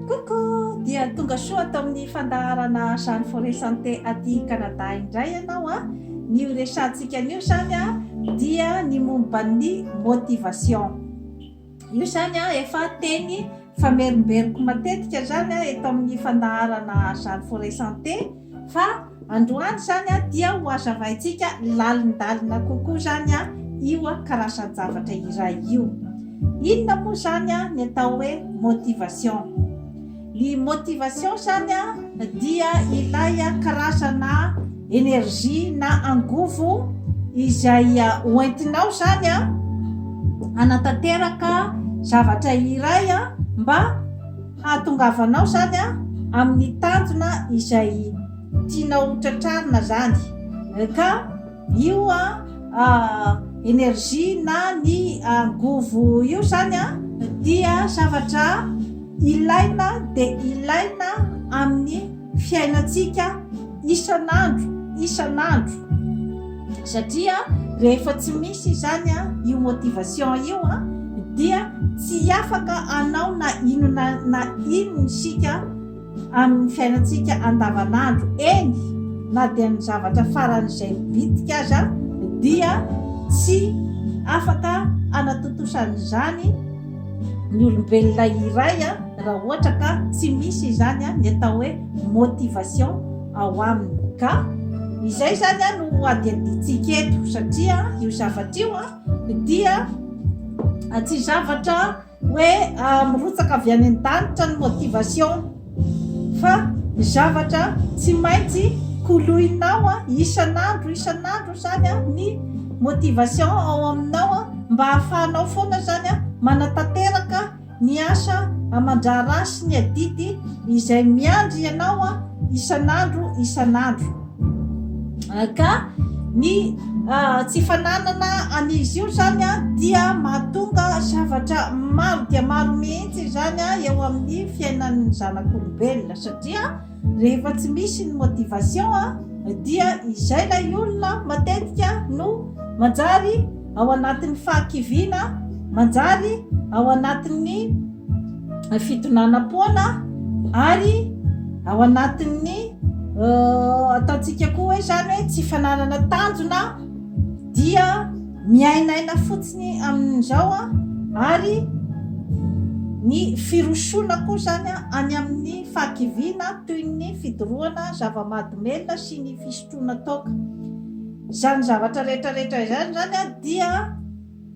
Coucou! Dia tonga soa ato amin'ny fandaharana Jeanne Forêt Santé aty Canada indray ianao a! Ny horesahantsika anio izany dia ny momba ny motivation. Io izany efa teny famerimberiko matetika izany eto amin'ny fandaharana Jeanne Forêt Santé. Fa androany izany dia ho hazavaintsika lalindalina kokoa izany io karazan-javatra iray io. Inona moa izany ny atao hoe motivation? Ny motivation izany dia ilay karazana énergie na angovo izay hoentinao izany hanatanteraka zavatra iray mba hahatongavanao zany amin'ny tanjona izay tianao ho tratrarina zany ka io energie na ny angovo io zany dia zavatra ilaina dia ilaina amin'ny fiainantsika isan'andro isan'andro satria rehefa tsy misy izany a io motivation io a dia tsy afaka anao na inona na inona isika amin'ny fiainantsika andavanandro eny na dia ny zavatra faran'izay bitika aza dia tsy afaka anatontosan'izany ny olombelona iray raha ohatra ka tsy misy izany ny atao hoe motivation ao aminy. Ka izay izany no hadihadintsika eto satria io zavatra io dia tsy zavatra hoe mirotsaka avy any an-danitra ny motivation. Fa ny zavatra tsy maintsy koloinao isan'andro isan'andro izany ny motivation ao aminao mba hahafahanao foana izany manatanteraka ny asa aman-draharaha sy ny adidy izay miandry anao isan'andro isan'andro. Ka ny tsy fananana an'izy io izany dia mahatonga zavatra maro dia maro mihitsy izany eo amin'ny fiainan'ny zanak'olombelona, satria rehefa tsy misy ny motivation dia izay ilay olona matetika no manjary ao anatin'ny fahakiviana, manjary ao anatin'ny fidonanam-poana ary ao anatin'ny euh, ataontsika koa hoe zany hoe tsy fananana tanjona dia miainaina fotsiny amin'izao a ary ny firosoana koa zany a any amin'ny fahakiviana toy ny fidorohana zava-mahadomelina sy ny fisotroana toaka Izany zavatra rehetra rehetra izany izany dia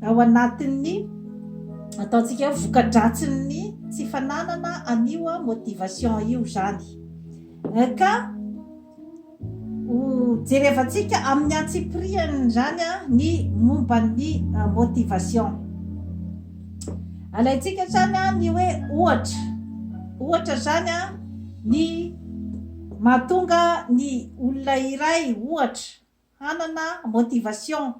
ao anatin'ny ataontsika hoe voka-dratsin'ny tsy fananana an'io motivation io izany. Ka ho jerevantsika amin'ny antsipirihany izany ny momba ny motivation. Alaintsika izany ny hoe ohatra. Ohatra izany ny Mahatonga ny olona iray, ohatra, hanana motivation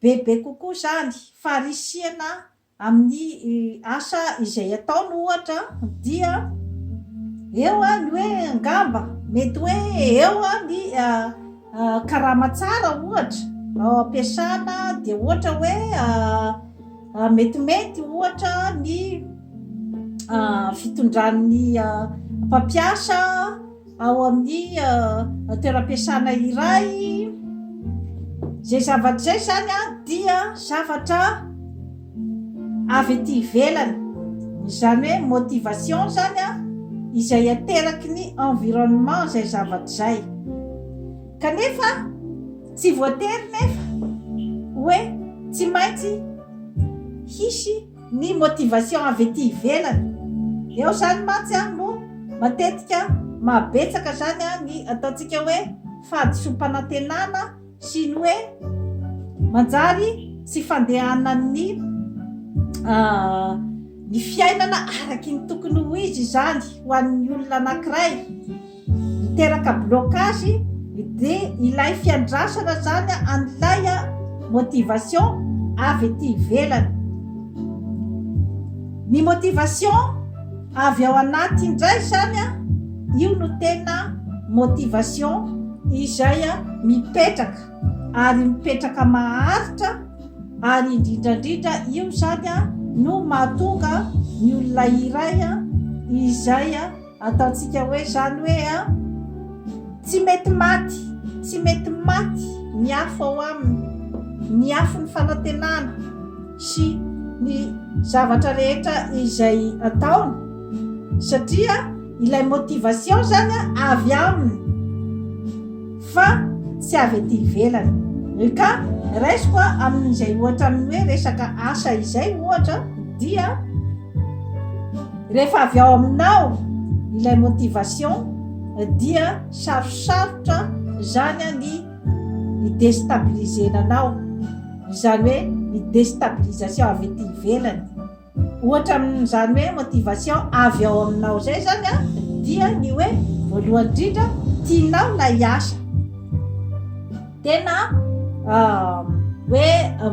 bebe kokoa izany, faharisihana amin'ny asa izay ataony, ohatra, dia eo ny hoe angamba mety hoe eo ny karama tsara, ohatra, ampiasana, dia ohatra hoe. Metimety, ohatra, ny fitondran'ny mpampiasa ao amin'ny toeram-piasana iray. Izay zavatra izay izany dia zavatra avy aty ivelany. Izany hoe motivation izany izay ateraky ny environnement izay zavatra izay. Kanefa. Tsy voatery nefa hoe tsy maintsy hisy ny motivation avy ety ivelany. Eo izany mantsy no matetika mahabetsaka izany ny ataontsika hoe fahadisoam-panantenana sy ny hoe manjary tsy fandehanan'ny ny fiainana araky ny tokony ho izy izany ho an'ny olona anankiray. miteraka blocage de ilay fiandrasana zany an'ilay motivation avy ety ivelany ny motivation avy ao anaty indray zany a io no tena motivation izay a mipetraka ary mipetraka maharitra ary indrindrandrindra io zany a no mahatonga ny olona iray a izay a Ataontsika hoe izany hoe an! Tsy mety maty, tsy mety maty ny afo ao aminy, ny afon'ny fanantenana sy ny zavatra rehetra izay ataony, satria ilay motivation izany an avy aminy. fa tsy avy ety ivelany. Ry ka, raisiko amin'izay ohatra amin'ny hoe resaka asa izay ohatra dia rehefa avy ao aminao ilay motivation dia sarosarotra izany ny hi-destabiliser-na anao, izany hoe ny destabilisation avy ety ivelany. Ohatra amin'izany hoe motivation avy ao aminao izay izany dia ny hoe voalohany indrindra tianao ilay asa, tena hoe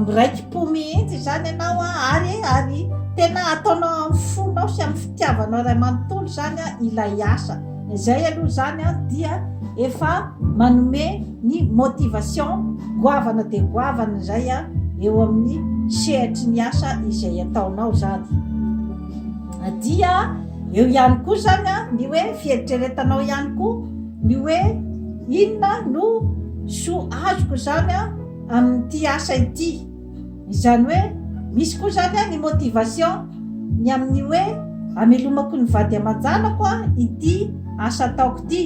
miraiki-po mihitsy izany ianao ary ary tena ataonao amin'ny fonao sy amin'ny fitiavanao iray manontolo izany ilay asa. Izay aloha izany dia efa manome ny motivation goavana dia goavana izay eo amin'ny sehatry ny asa izay ataonao izany. Dia eo ihany koa izany ny hoe fieritreretanao ihany koa ny hoe inona no soa azoko izany amin'ity asa ity. Izany hoe misy koa izany an ny motivation ny amin'ny hoe amelomako ny vady aman-janako an ity asa ataoko ity.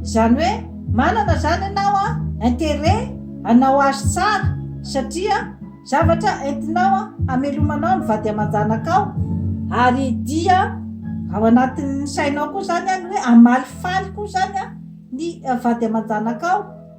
Izany hoe manana izany ianao an interet hanao azy tsara satria zavatra entinao an hamelomanao ny vady aman-janakao. Ary dia ao anatin'ny sainao koa izany an ny hoe hamalifaly koa izany an ny vady aman-janakao.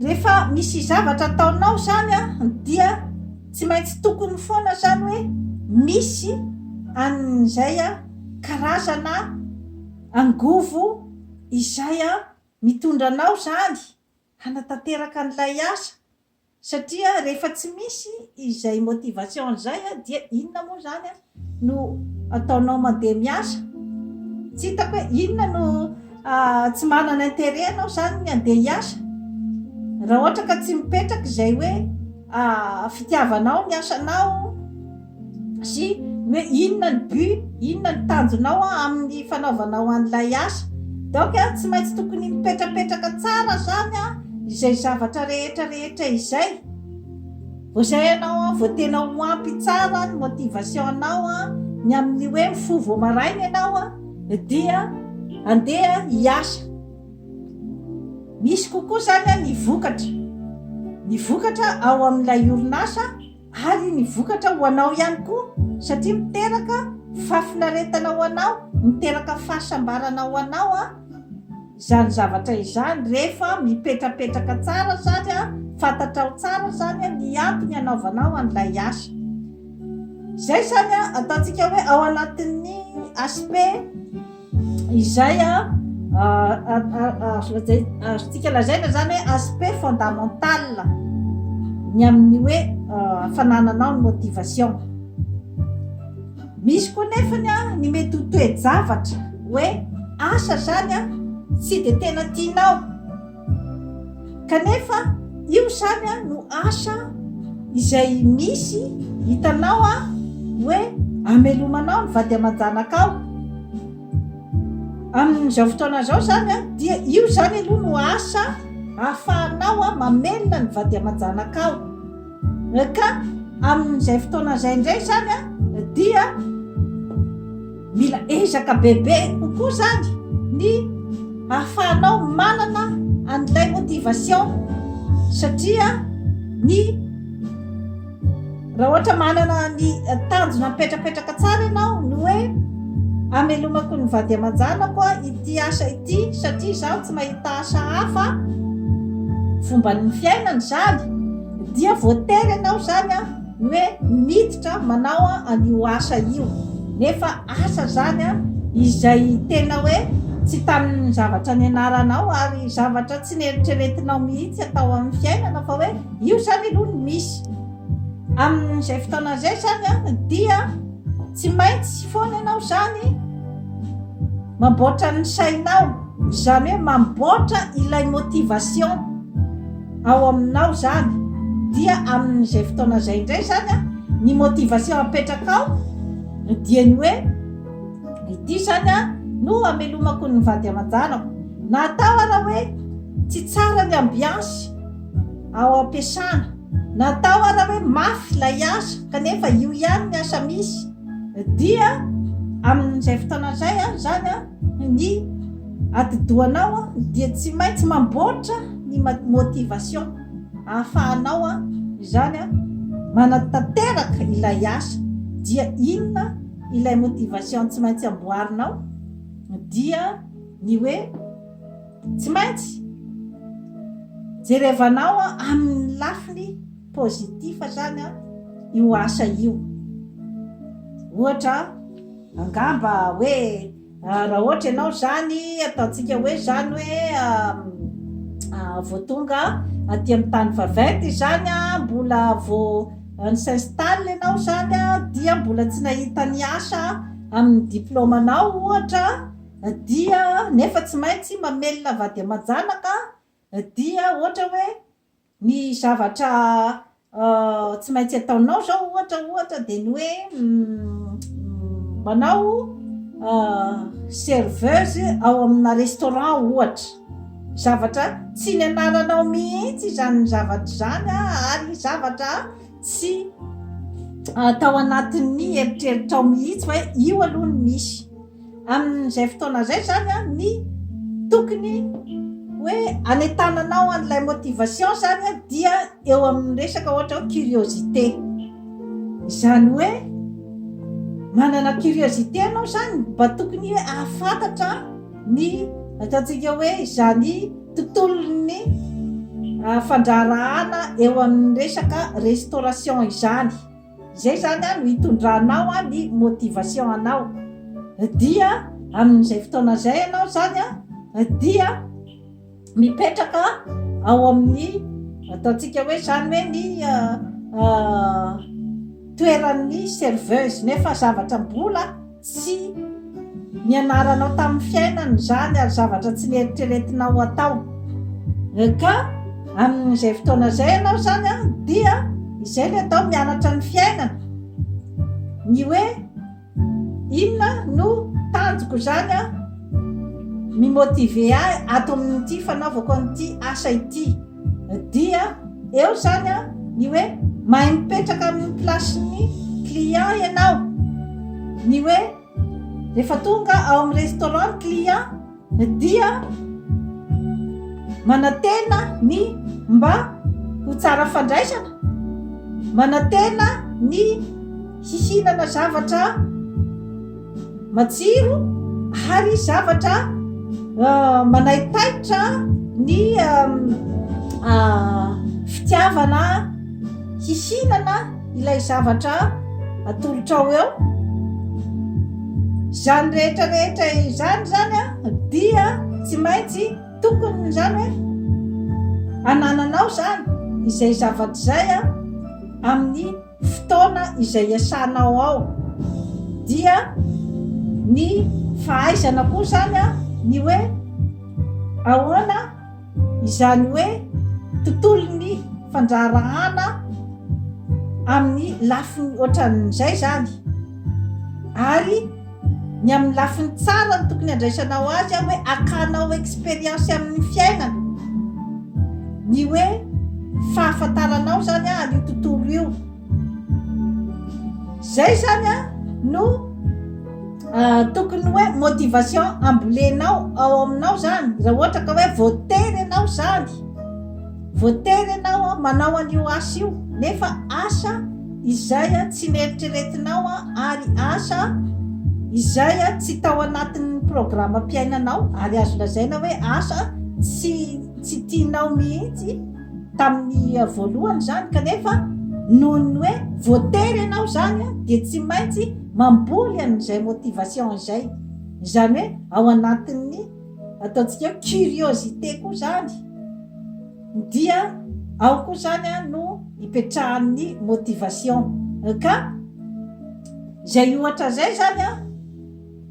Rehefa misy zavatra ataonao zany dia tsy maintsy tokony foana zany hoe misy an'izay karazana angovo izay mitondra anao zany hanatanteraka an'ilay asa satria rehefa tsy misy izay motivation izay dia inona moa zany an? no ataonao mandeha miasa? Tsy hitako hoe inona no tsy manana intérêt anao izany ny handeha hiasa? Raha ohatra ka tsy mipetraka izay hoe fitiavanao ny asanao sy ny hoe inona ny but, inona ny tanjonao amin'ny fanaovanao an'ilay asa. Donc tsy maintsy tokony mipetrapetraka tsara izany izay zavatra rehetra rehetra izay. Vao zay ianao an, vao tena ho ampy tsara ny motivation anao an, ny amin'ny hoe mifoha vao maraina ianao an, dia andeha hiasa. Misy kokoa zany an ny vokatra, ny vokatra ao amin'ilay orinasa ary ny vokatra ho anao ihany koa satria miteraka fahafinaretana ho anao, miteraka fahasambarana ho anao an. izany zavatra izany rehefa mipetrapetraka tsara sady fantatrao tsara izany ny antony anaovanao an'ilay asa. Izay izany ataontsika hoe ao anatin'ny aspect izay azontsika lazaina izany hoe aspect fondamental ny amin'ny hoe fanananao ny motivation. Misy koa nefany a ny mety ho toe-javatra hoe asa zany a tsy de tena tianao kanefa io zany a no asa izay misy hitanao a hoe amelomanao ny vady aman-janakao amin'izao fotoana izao zany a dia io zany aloha no asa ahafahanao a mamelona ny vady aman-janakao Ka amin'izay fotoana izay indray izany dia mila ezaka bebe kokoa izany ny hahafahanao manana an'ilay motivation satria ny raha ohatra manana ny tanjona mipetrapetraka tsara ianao ny hoe amelomako ny vady aman-janako ity asa ity satria izaho tsy mahita taratasy hafa fomba ny fiainana izany dia voatery ianao izany a ny hoe miditra manao an'io asa io nefa asa izany a izay tena hoe tsy tamin'ny zavatra nianaranao ary zavatra tsy neritreretinao mihitsy atao amin'ny fiainana fa hoe io izany aloha ny misy amin'izay fotoana izay izany a dia Tsy maintsy foana ianao izany mamboatra ny sainao, izany hoe mamboatra ilay motivation ao aminao izany, dia amin'izay fotoana izay indray izany an, ny motivation apetrakao dia ny hoe ity izany an no hamelomako ny vady aman-janako, na atao ara hoe tsy tsara ny ambiance ao am-piasana. Natao ara hoe mafy ilay asa kanefa io ihany ny asa misy dia amin'izay fotoana izay an izany an ny atidohanao an dia tsy maintsy mamboatra ny motivation ahafahanao an izany an manatanteraka ilay asa dia inona ilay motivation tsy maintsy amboarinao dia ny hoe Tsy maintsy jerevanao amin'ny lafiny positif zany io asa io. Ohatra, angamba hoe raha ohatra ianao zany ataontsika hoe zany hoe vao tonga aty amin'ny tany vaventy izany mbola vao ni s'installe ianao zany dia mbola tsy nahita ny asa amin'ny diplôme-nao ohatra dia nefa tsy maintsy mamelona vady aman-janaka dia ohatra hoe ny zavatra tsy maintsy ataonao zao ohatra ohatra dia ny hoe manao serveuse ao amina restaurant ohatra zavatra tsy ny anaranao mihitsy izany zavatra izany ary zavatra tsy atao anatin'ny eritreritrao mihitsy hoe io aloha ny misy amin'izay fotoana izay zany an, ny tokony hoe anetananao an'ilay motivation zany an, dia eo amin'ny resaka ohatra hoe curiosité izany hoe manana curiosité anao zany mba tokony hoe ahafantatra ny ataontsika hoe izany tontolon'ny ah, fandraharahana eo amin'ny resaka restauration izany Izay izany an no hitondranao an ny motivation anao dia amin izay fotoana izay ianao izany an dia mipetraka ao amin ny ataontsika hoe izany hoe ny toeran ny serveuse nefa zavatra mbola Tsy nianaranao tamin'ny fiainana izany ary zavatra tsy neritreretinao hatao. Ka amin'izay fotoana izay ianao izany an, dia izay ilay atao, mianatra ny fiainana. Ny hoe inona no tanjoko izany an, mi-motiver ahy ato amin'ity fanaovako an'ity asa ity. Dia eo izany ny hoe mahay mipetraka amin'ny place-n'ny client ianao. Ny hoe rehefa tonga ao amin'ny restaurant ny client dia manantena ny mba ho tsara fandraisana, manantena ny hihinana zavatra. Matsiro ary zavatra manaitaitra ny fitiavana hihinana ilay zavatra atolotrao eo. Izany rehetra rehetra izany izany dia tsy maintsy tokony izany hoe anananao izany izay zavatra izay amin'ny fotoana izay iasanao ao dia ny fahaizana koa izany ny hoe ahoana izany hoe tontolon'ny fandraharahana amin'ny lafiny ohatran'izay izany ary Ny amin'ny lafiny tsara no tokony handraisanao azy hoe akanao expérience amin'ny fiainana, ny hoe fahafantaranao izany an'io tontolo io. Izay izany no tokony hoe motivation ambolenao ao aminao izany raha ohatra ka hoe voatery ianao izany. Voatery ianao manao an'io asa io, nefa asa izay tsy neritreretinao ary asa izay tsy tao anatin'ny programam-piainanao ary azo lazaina hoe asa tsy tsy tianao mihitsy tamin'ny voalohany izany kanefa noho ny hoe voatery ianao izany dia tsy maintsy mamboly an'izay motivation izay izany hoe ao anatin'ny ataontsika hoe curiosité koa zany dia ao koa zany a no ipetrahan'ny motivation ka zay ohatra zay zany a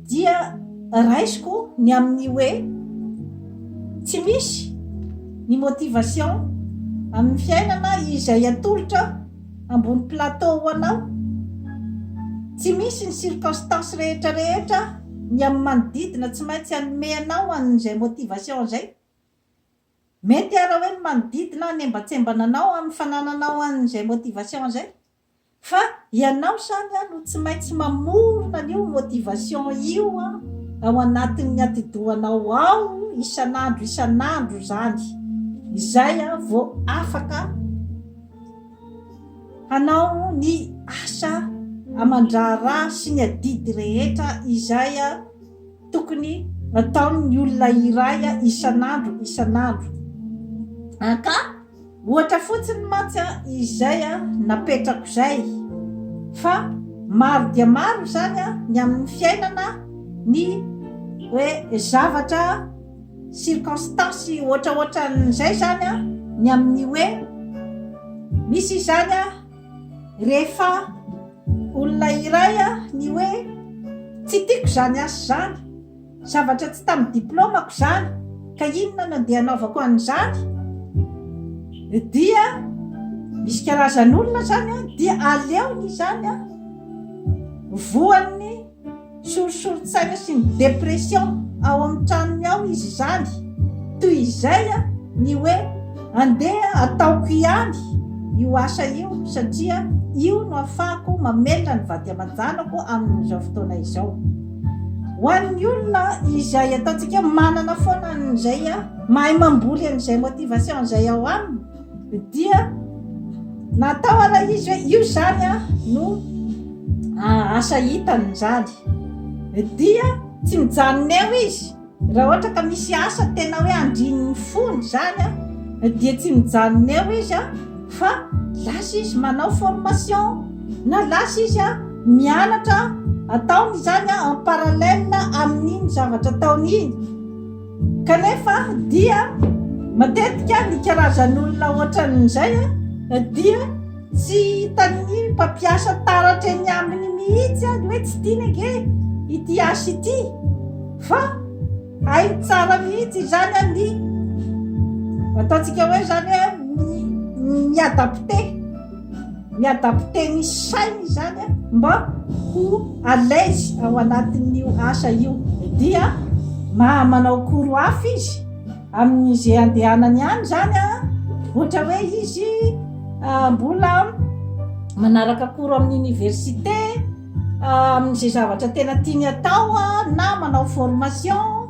dia raisiko ny amin'ny hoe tsy misy ny motivation amin'ny fiainana izay atolotra Ambony plateau ho anao. Tsy misy ny circonstances rehetra rehetra ny amin'ny manodidina tsy maintsy hanome anao an'izay motivation izay. Mety ara hoe ny manodidina hanembatsembana anao amin'ny fanananao an'izay motivation izay. Fa ianao samy no tsy maintsy mamorona an'io motivation io ao anatin'ny atidohanao ao isan'andro isan'andro izany. Izay vao afaka. Hanao ny asa aman-draharaha sy ny adidy rehetra izay tokony hataon' ny olona iray isan'andro isan'andro ka. Ohatra fotsiny mantsy izay napetrako izay, fa maro dia maro izany ny amin'ny fiainana ny hoe zavatra. circonstance ohatraohatran'izay izany an, ny amin'ny hoe misy izany an, rehefa olona iray an, ny hoe tsy tiako izany asa izany, zavatra tsy tamin'ny diplaomako izany, ka inona no andeha hanaovako an'izany? dia misy karazan'olona izany an, dia aleony izany an, voan'ny. Sorisorin-tsaina sy ny dépression ao amin'ny tranony ao izy izany. Toy izay ny hoe andeha ataoko ihany io asa io satria io no afahako mamelona ny vady aman-janako amin'izao fotoana izao. Ho an'ny olona izay ataontsika hoe manana foana an'izay mahay mamboly an'izay motivation izay ao aminy, dia natao ara izy hoe io zany a no asa hitany zany dia tsy mijanona eo izy raha ohatra ka misy asa tena hoe andrinny fony zany a dia tsy mijanona eo izy a fa lasa izy manao formation na lasa izy a mianatra ataony zany a en paralele amin'iny zavatra ataony iny Kanefa dia matetika ny karazan'olona ohatran'izay dia tsy hitan'ny mpampiasa taratra eny aminy mihitsy ny hoe tsy tiany ange ity asa ity fa hainy tsara mihitsy izany ny ataontsika hoe izany hoe mi-adapter. Miadapte ny sainy izany mba ho à l'aise ao anatin'io asa io dia maha manao cours hafa izy amin'ny ze andehanany any zany a, ohatra hoe izy mbola manaraka cours amin'ny université, Amin'izay zavatra tena tiany atao na manao formation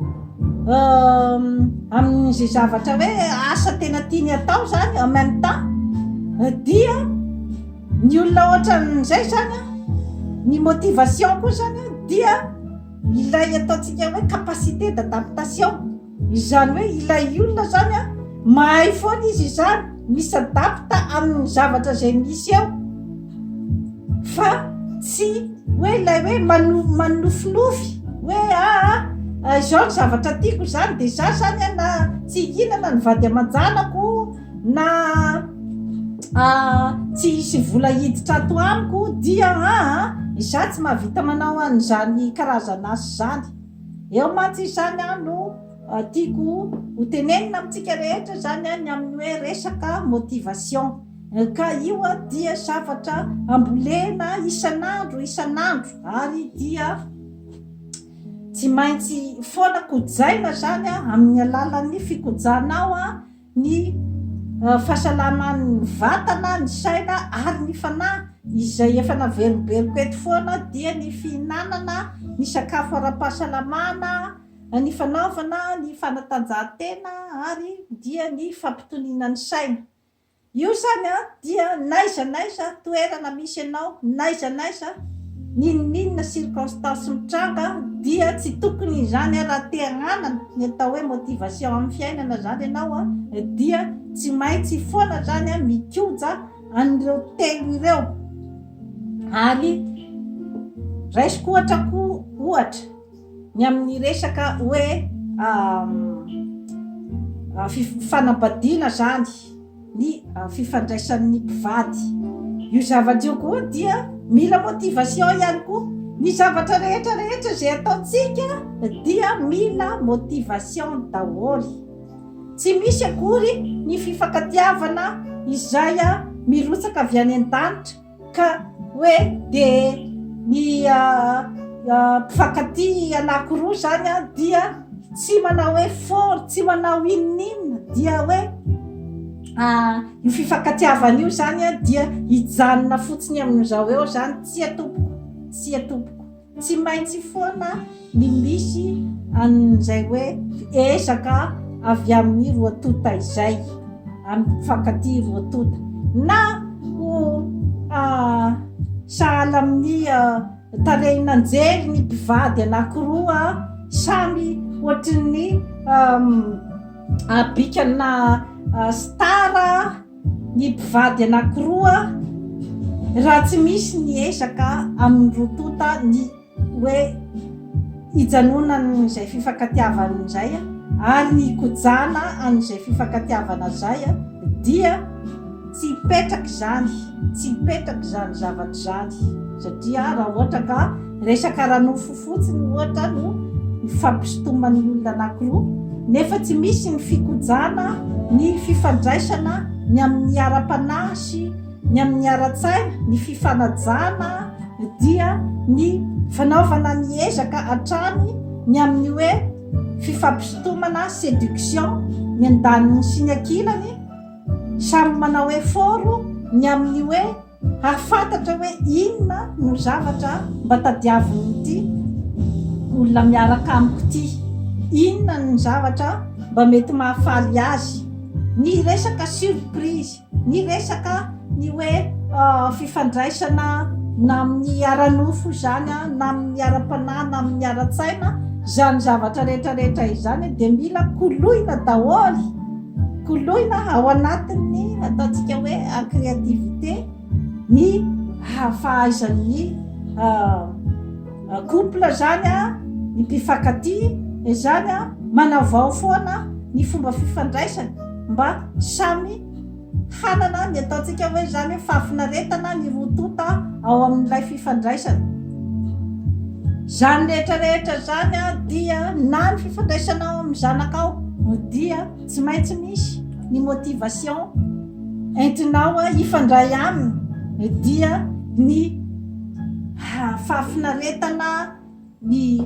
amin'izay zavatra hoe asa tena tiany atao zany en même temps dia ny olona ohatran'izay zany a ny motivation koa zany a dia ilay ataontsika hoe capacité d'adaptation Izany hoe ilay olona izany an, mahay foana izy izany mi-s'adapte amin'ny zavatra izay misy eo fa tsy hoe ilay hoe manofinofy hoe aa izao ny zavatra tiako izany dia za izany an na tsy hihinana ny vady aman-janako na tsy hisy vola hiditra ato amiko dia aa za tsy mahavita manao an'izany karazan'asa izany. Eo mantsy izany no tiako ho tenenina amintsika rehetra izany ny amin'ny hoe resaka motivation ka io dia zavatra ambolena isan'andro isan'andro ary dia tsy maintsy foana kojaina izany amin'ny alalan'ny fikojanao ny fahasalaman'ny vatana, ny saina ary ny fanahy izay efa naverimberiko eto foana dia ny fihinanana ny sakafo ara-pahasalamana, ny fanaovana ny fanatanjahantena ary dia ny fampitoniana ny saina. Io izany an! dia n'aiza n'aiza toerana misy anao, n'aiza n'aiza, n'inon'inona circonstance mitranga, dia tsy tokony izany an, raha te hanana ny atao hoe motivation amin'ny fiainana izany ianao an, dia tsy maintsy foana izany an mikoja an'ireo telo ireo. Ary raisiko ohatra koa ohatra ny amin'ny resaka hoe fanambadiana izany. ny fifandraisan'ny mpivady. Io zavatra io koa dia mila motivation ihany koa. Ny zavatra rehetra rehetra izay ataontsika dia mila motivation daholo. Tsy misy akory ny fifankatiavana izay mirotsaka avy any an-danitra. Ka hoe dia ny mpifankatia anankiroa izany dia tsy manao effort, tsy manao inon'inona dia hoe io fifankatiavana io izany dia hijanona fotsiny amin'izao eo izany, tsia tompoko, tsia tompoko. Tsy maintsy foana ny misy an'izay hoe ezaka avy amin'ny roa tonta izay, amin'ny mpifankatia roa tonta, na ho sahala amin'ny tarehin'anjely ny mpivady anankiroa samy hoatrin'ny bikana star, Ny mpivady anankiroa raha tsy misy ny ezaka amin'ny roa tonta ny hoe hijanonany izay fifankatiavana izay ary ny hikojana an'izay fifankatiavana izay dia tsy hipetraka izany, tsy hipetraka izany zavatra izany satria raha ohatra ka Resaka ara-nofo fotsiny ohatra no ifampisintoman'ny olona anankiroa nefa tsy misy ny fikojana ny fifandraisana ny amin'ny ara-panahy sy ny amin'ny ara-tsaina, ny fifanajana dia ny fanaovana ny ezaka hatrany ny amin'ny hoe fifampisintomana, séduction, ny andaniny sy ny ankilany, samy manao effort ny amin'ny hoe. Hahafantatra hoe inona no zavatra mba tadiavin'ity olona miaraka amiko ity, inona ny zavatra mba mety mahafaly azy, ny resaka surprise, ny resaka ny hoe fifandraisana na amin'ny ara-nofo izany na amin'ny ara-panahy na amin'ny ara-tsaina, izany zavatra rehetra rehetra izany dia mila koloina daholo. Koloina ao anatin'ny ataontsika hoe créativité ny hahafahaizan'ny couple zany a, ny mpifankatia zany a, manavao foana ny fomba fifandraisany mba samy hanana ny ataontsika hoe zany fahafinaretana ny roa tonta ao amin'ilay fifandraisana. Izany rehetra rehetra izany dia na ny fifandraisanao amin'ny zanakao dia tsy maintsy misy ny motivation entinao hifandray aminy dia ny fahafinaretana ny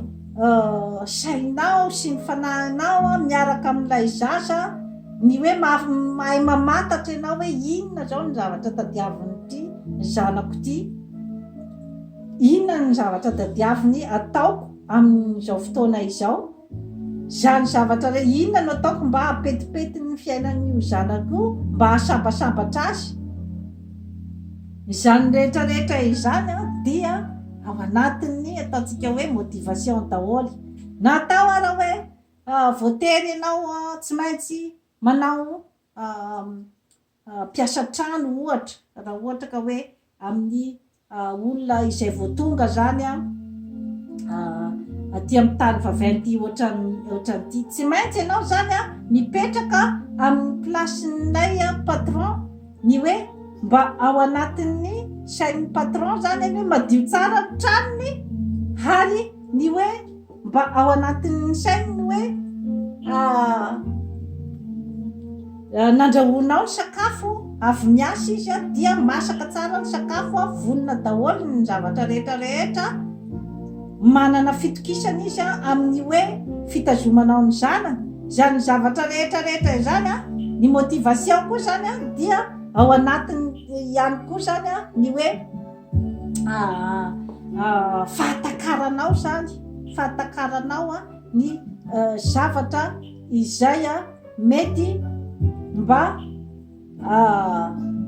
sainao sy ny fanahinao miaraka amin'ilay zaza ny hoe mahay mamantatra ianao hoe inona izao ny zavatra tadiavin'ity zanako ity. Inona no zavatra tadiaviny ataoko amin'izao fotoana izao? Izany zavatra re, inona no ataoko mba hampetipety ny fiainan'io zanako io, mba hahasambatambatra azy? Izany rehetra rehetra izany dia ao anatin'ny ataontsika hoe motivation daholo. Na atao ara hoe voatery ianao tsy maintsy manao mpiasa trano ohatra, raha ohatra ka hoe amin'ny olona izay vao tonga izany aty amin'ny tany vaventy ohatran'ity, tsy maintsy ianao izany mipetraka amin'ny place-n'ilay patron, ny hoe mba ao anatin'ny sain'ny patron izany ny hoe madio tsara ny tranony ary ny hoe Mba ao anatin'ny sainy ny hoe nandrahoanao ny sakafo, avy miasa izy a, dia masaka tsara ny sakafo a, vonona daholo ny zavatra rehetra rehetra, manana fitokisana izy a amin'ny hoe fitazomanao ny zanany, izany zavatra rehetra rehetra izany a, ny motivation koa izany a dia ao anatiny ihany koa izany a ny hoe. fahatakaranao zany fahatakaranao a ny zavatra izay a mety mba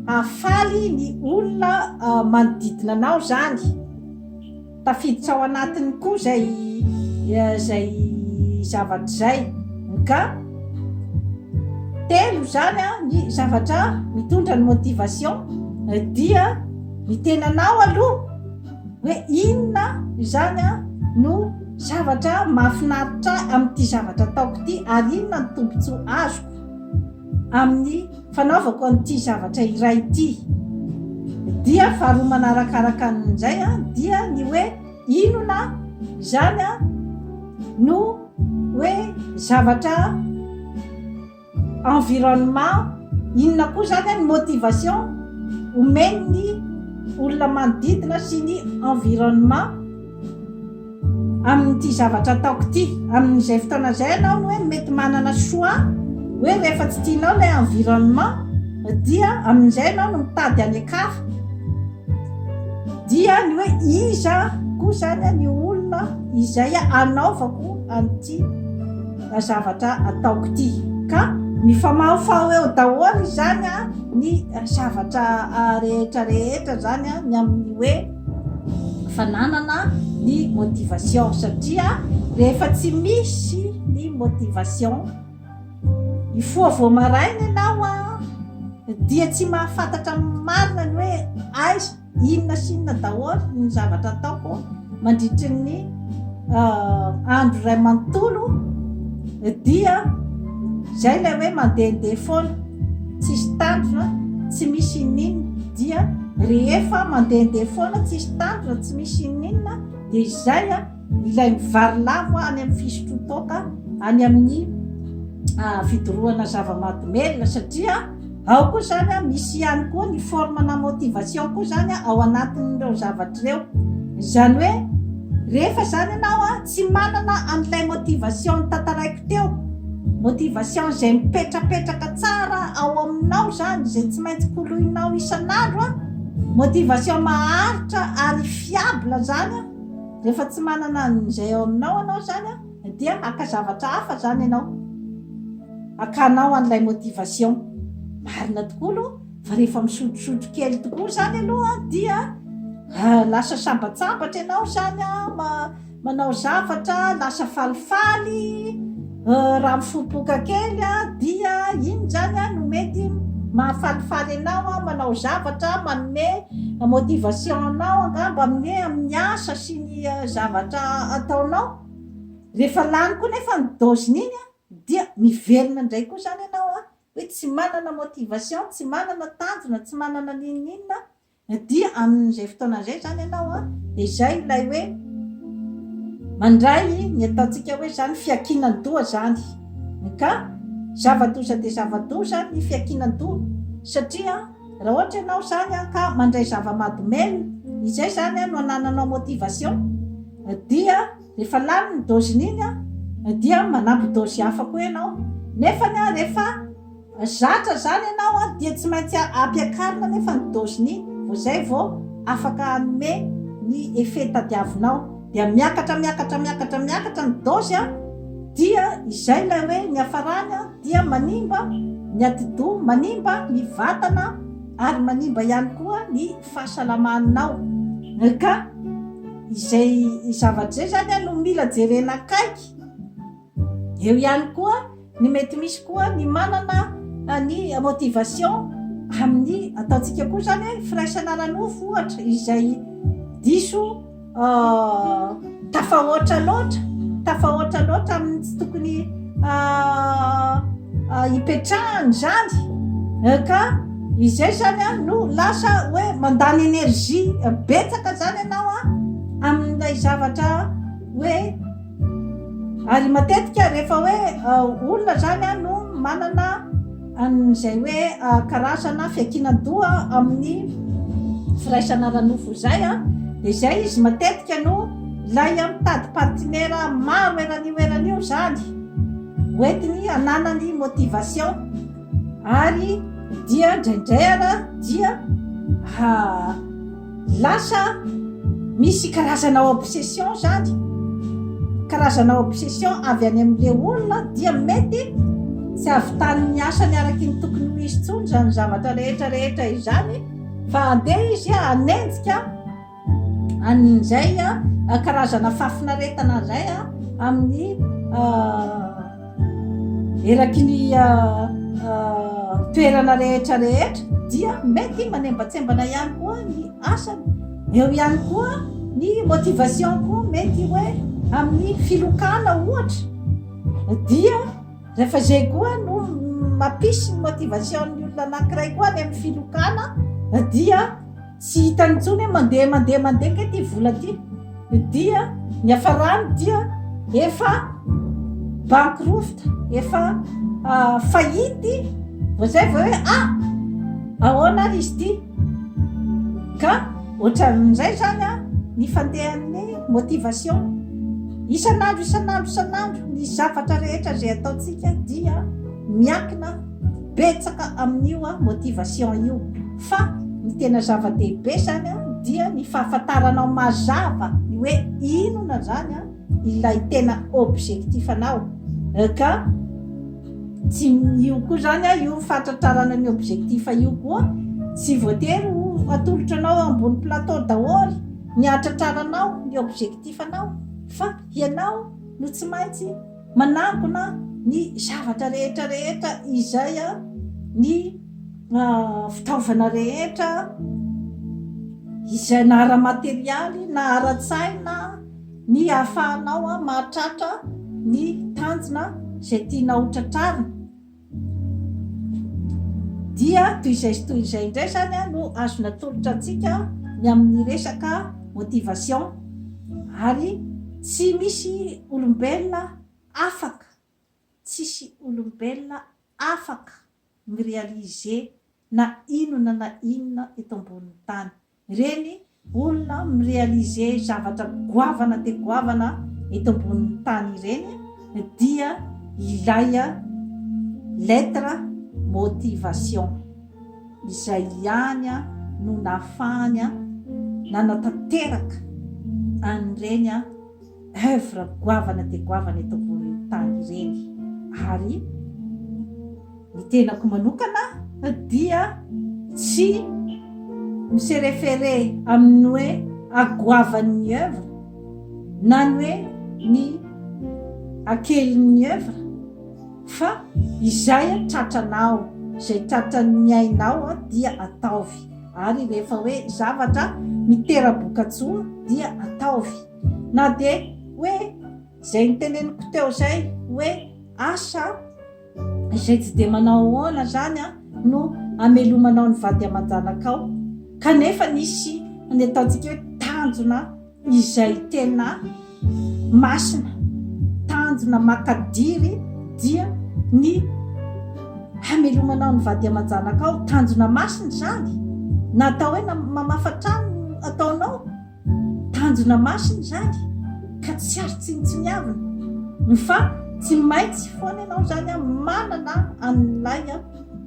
hahafaly ny olona manodidina anao zany tafiditra ao anatiny koa zay zay zavatra izay ka telo zany a ny zavatra mitondra ny motivation dia ny tenanao aloha hoe inona izany no zavatra mahafinaritra ahy amin'ity zavatra ataoko ity ary inona ny tombontsoa azoko amin'ny fanaovako an'ity zavatra iray ity dia faharoa manarakaraka an'izay a dia ny hoe inona izany a no hoe zavatra environnement, inona koa izany an ny motivation omeny ny olona manodidina sy ny environnement amin'ity zavatra ataoko ity. Amin'izay fotoana izay ianao no hoe mety manana choix hoe rehefa tsy tianao ilay environnement dia amin'izay ianao no mitady any an-kafa. Dia ny hoe iza koa izany ny olona izay hanaovako an'ity. na zavatra ataoko ity ka mifamahofaho eo daholo izany a ny zavatra rehetra rehetra zany a ny amin'ny hoe fananana ny motivation satria rehefa tsy misy ny motivation ifoha vao maraina ianao a dia tsy mahafantatra marina ny hoe aiza Inona sy inona daholo ny zavatra ataoko mandritry ny andro iray manontolo dia izay ilay hoe mandehandeha foana, tsisy tanjona, tsy misy ininona. Dia rehefa mandehandeha foana, tsisy tanjona, tsy misy ininona dia izay a. Ilay mivary lavo any amin'ny fisotroan-toaka any amin'ny fidorohana zava-mahadomelina satria ao koa izany misy ihany koa ny forme na motivation koa izany ao anatin'ireo zavatra ireo. Izany hoe rehefa izany ianao a tsy manana an'ilay motivation tantaraiko teo, motivation izay mipetrapetraka tsara ao aminao izany izay tsy maintsy koloinao isan'andro a, motivation maharitra ary fiable izany a. Rehefa tsy manana an'izay ao aminao ianao izany dia haka zavatra hafa izany ianao, hakanao an'ilay motivation. Marina tokoa aloha fa rehefa misotrosotro kely tokoa izany aloha dia lasa sambatsambatra ianao izany, manao zavatra, lasa falifaly. Raha mifopoka kely dia inona izany no mety mahafalifaly anao manao zavatra manome motivation anao angamba anie amin'ny asa sy ny zavatra ataonao? Rehefa lany koa nefa ny dose-n'iny dia miverina indray koa izany ianao hoe tsy manana motivation, tsy manana tanjona, tsy manana n'inon'inona Na dia amin'izay fotoana izay izany ianao an, dia izay ilay hoe mandray ny ataontsika hoe izany fiankinan-doha izany. MK, Zava-doza dia zava-doza ny fiankinan-doha, satria raha ohatra ianao izany an ka mandray zava-mahadomelina, izay izany an no anananao motivation, dia rehefa lany ny doziny iny an dia manampy dozy hafa koa ianao, nefany an rehefa. Zatra zany ianao an, dia tsy maintsy ampiakarina anefa ny dosin'i vao izay vao afaka hanome ny effet tadiavinao. Dia miakatra miakatra miakatra miakatra ny dose an, dia izay ilay hoe ny hafarany an dia manimba ny atidoha, manimba ny vatana ary manimba ihany koa ny fahasalamanao. Ka izay zavatra izay zany an no mila jerena akaiky. Eo ihany koa ny mety misy koa ny manana ny motivation amin'ny ataontsika koa izany hoe firaisana ara-nofo ohatra izay diso tafahoatra loatra, tafahoatra loatra amin'ny tsy tokony hipetrahany izany ka izay izany a no lasa hoe mandany énergie betsaka izany ianao a amin'ilay zavatra hoe Ary matetika rehefa hoe olona izany no manana an'izay hoe karazana fiankinan-doha amin'ny firaisana ara-nofo izay dia izay izy matetika no ilay mitady partinera maro eran'io eran'io izany hoentiny hananany motivation. Ary dia indraindray ara dia ha lasa misy karazana obsession zany karazana obsession avy any amin'le olona dia mety tsy avitan'ny asany araky ny tokony ho izy tsony zany zavatra rehetra rehetra izany fa andeha izy hanenjika An'ny izay karazana fahafinaretana izay amin'ny eraky ny toerana rehetra rehetra dia mety manembatsembana ihany koa ny asany. Eo ihany koa ny motivation koa mety hoe amin'ny filokana ohatra dia rehefa izay koa no mampisy ny motivation ny olona anankiray koa any amin'ny filokana dia Tsy hitany intsony hoe mandeha mandeha mandeha ange ity vola ity, dia niafarany dia efa bankruft, efa faillite, vao izay vao hoe ah! ahoana ary izy ity? Ka ohatran'izay izany ny fandehan'ny motivation. Isan'andro isan'andro isan'andro ny zavatra rehetra izay ataontsika dia miankina. betsaka amin'io motivation io fa ny tena zava-dehibe zany dia ny fahafantaranao mazava ny hoe inona zany ilay tena objectif anao ka tsy io koa zany io fahatratrarana ny objectif io koa tsy voatery ho atolotra anao ambony plateau daholo ny hahatratraranao ny objectif anao fa ianao no tsy maintsy Manangona ny zavatra rehetra rehetra izay ny fitaovana rehetra izay na ara-materialy na ara-tsaina ny hahafahanao mahatratra ny tanjona izay tianao ho tratrarina. Dia toy izay sy toy izay indray izany no azo natolotra antsika ny amin'ny resaka motivation ary tsy misy olombelona afaka, tsisy olombelona afaka mi-realiser na inona na inona eto ambonin'ny tany. Ireny olona mi-realiser zavatra goavana dia goavana eto ambonin'ny tany ireny dia ilay lettre motivation izay ihany no nahafahany nanatanteraka an'ireny Œuvre goavana dia goavana eto ambonin'ny tany ireny ary ny tenako manokana dia tsy mi se référer amin'ny hoe agoavan'ny œuvre na ny hoe ny akelin'ny œuvre fa izay tratranao, izay tratran'ny ainao dia ataovy ary rehefa hoe zavatra mitera-bokatsoa dia ataovy. Na dia hoe izay niteneniko teo izay hoe asa izay tsy dia manao ahoana izany no hamelomanao ny vady aman-janakao, kanefa nisy ny ataontsika hoe tanjona izay tena masina, tanjona makadiry dia ny hamelomanao ny vady aman-janakao, tanjona masina izany, na atao hoe mamafa trano ataonao, Tanjona masina izany ka tsy azo tsinontsiniavina. Fa tsy maintsy foana ianao izany manana an'ilay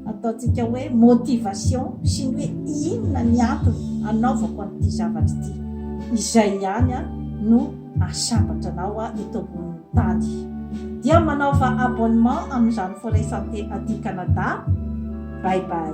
ataontsika hoe motivation sy ny hoe inona ny antony anaovako an'ity zavatra ity. Izay ihany no ahasambatra anao eto ambonin'ny tany. Dia manaova abonnement amin'izany Forêt Santé aty Canada. Bye bye.